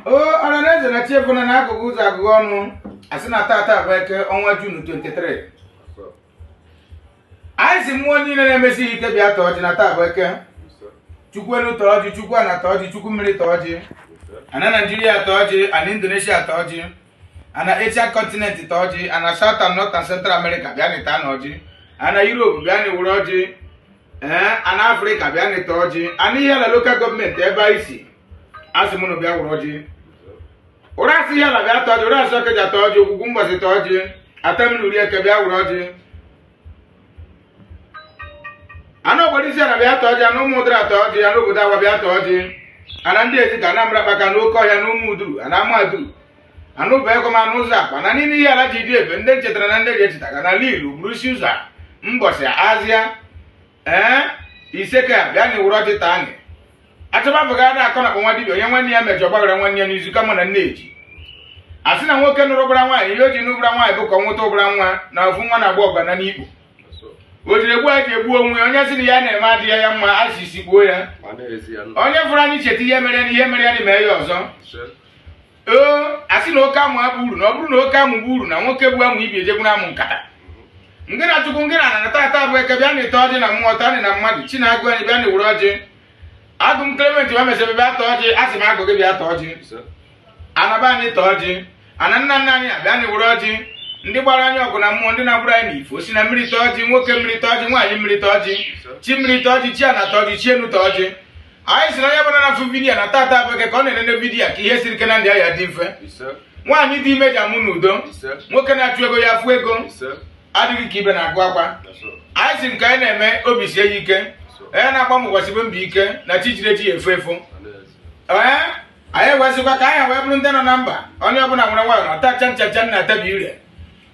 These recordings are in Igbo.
o ọra na eze na chi efoona na a gụghee ụzọ a gụghee ọnụ asị na tata bụ eke ọnwa jun 23 anyị si mmụọ niile na-emesi ihe ike bịa taa ọjị na taa bụ eke chukwu elu taa ọjị chukwu ana taa ọjị chukwu mmiri taa ọjị ana naijiria taa ọjị ana indonesia taa ọjị ana asia kọntinent taa ọjị ana south and north and central america bịanụ taanụ ọjị ana europe bịanụ were ọjị ee ana afrịka bịanụ ta ọjị ana ihiala lokal gọọmenti ebe anyị si asị m unu bịa were ọjị ụrasị ihiala bịa ta ọjị ụrasị ọkịja ta ọjị ogwugwu mbọsị ta ọjị atamiri uri eke bịa were ọjị ana ogboro isi ana bịa ta ọjị ana ụmụdara ta ọjị ana obodo awa bịa ta ọjị ana ndịezike ana mbarakpaka na ọkọhịa na ụmụduru ana amaduru ana ubahuekwem ana ụzọakwa ana niile ihiala ji dị ebe ndị chetara na ndị ji echetaga ana lilu ubuluisiuzọ mbọsị azịa ee isseke bịanụ were ọjị taa anyị achọbabụga ada akọ n'akpa nwa dibia onye nwanne ya mejọ gbaghara nwanne ya na izu ka mma na nne ji a sị na nwoke nụrụ ụbara nwaanyị ihe o ji nụ ụbara nwaanyị bụ ka ọ nweta ụbara nwa na ofu nwa na-agba ọgbana n'ikpo o jiri egbu a ji egbu onwe ya onye sị na ya na-eme adịghị ya mma a sisi gbuo ya ma na-ezi ya onye fụrụ anyị cheta ihe mere na ihe mere ya na mee ya ọzọ nsị ee a sị na oke amụ abụ uru na ọ bụrụ na oke amụ bụ uru na nwoke bu amụ ibi ejegwu na amụ nkata ngị na chukwu ngị na ana na tata bụ eke bịanụ taa ọjị na mmụọ tanị na mmadụ chi na agwụ anyị bịanụ were ọjị agụ m klement ma mesebe bịa taa ọjị a sị m agwụ gị bịa taa ọjị ana be anyị taa ọjị ana nna nna anyị a bịanụ were ọjị ndị gbara anyị ọgụ na mmụọ ndị na-agbụrụ anyị n'ifo si na mmiri taa ọjị nwoke mmiri taa ọjị nwaanyị mmiri taa ọjị chi mmiri taa ọjị chi ana taa ọjị chi enu taa ọjị anyị si na onye ọbụla na-afụ vidiyo na tata bụ eke ọ na-enene vidiyo ka ihe siri ike na ndụ ya dị mfe ise nwaanyị dị ime ji amụ n'udo ise nwoke na-achọ ego ya afụ ego ise adịghị ka ibe na-agụ akwa that's all. anyị si nke anyị na-eme obi sie ya ike onye na-agba mbọ gbasibe mbọ ike na chi jiri eji ya efo efo ee anyị wee sịkwa ka anyị wee bụrụ ndị nọ na mba onye ọbụla were nwayọ na-atacha nchacha na-atabi ire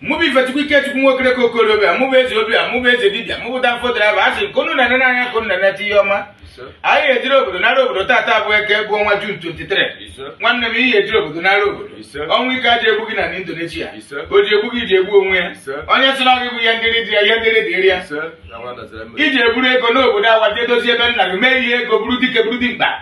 mụ bụ ifechukwu ikechukwu nwokere ka okorobịa mụ bụ eze obia mụ bụ eze dibia mụ bụ danfo draiva asị nke unu na-ene n'anya ka unu na-eneta ihe ọma anyị ejiri obodo nara obodo tata bụ eke bụ ọnwa jun 23 nwanne m ihe ejiri obodo nara obodo ọnwụ ike aji egbu gị na indonesia o ji egbu gị ji egbu onwe ya onye sị na ọ gị bụ ihe ndịrị dị ya ihe ndịrị dịrị ya iji eburu ego n'obodo awa jee dozie ebe nna gị mee ihe ego buru dike buru dimkpa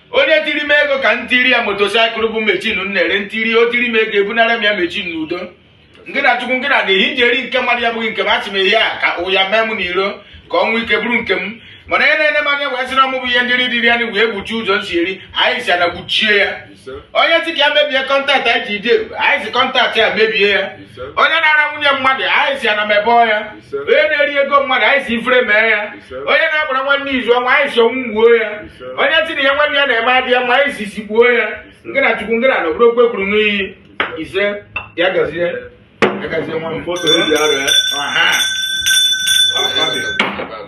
onye tiri m ego ka m tiri ya motosaịkụl bụ mechin m na-ere ntiri o tiri m ego ebunara m ya mechin n'udo ngị na chukwu ngị na dị ihe iji eri nke mmadụ ya bụghị nke m achị m ihe a ka ya mee m n'iro ka ọnwụ ike bụrụ nke m mana onye na-ene m anya wee sị na ọ mụ bụ ihe ndị dịrị anyị wee gbuchie ụzọ m si eri anyị si ana gbuchie ya onye si ka ya mebie kọntaktị anyị ji eri anyị si kọntaktị ya mebie ya onye na-ara nwunye mmadụ anyị si ana mebọọ ya onye na-eri ego mmadụ anyị si ifere mee ya onye na-agbara nwanne izu ọnwụ anyị si ọnwụ gbuo ya onye si na ihe nwanne ya na-eme adị ya mma anyị si isi kpuo ya nke na chukwu nke na na obodo okwe kwuru n'iyi ise ya gazie ya gazie nwa m Foto eji arịa. Aha.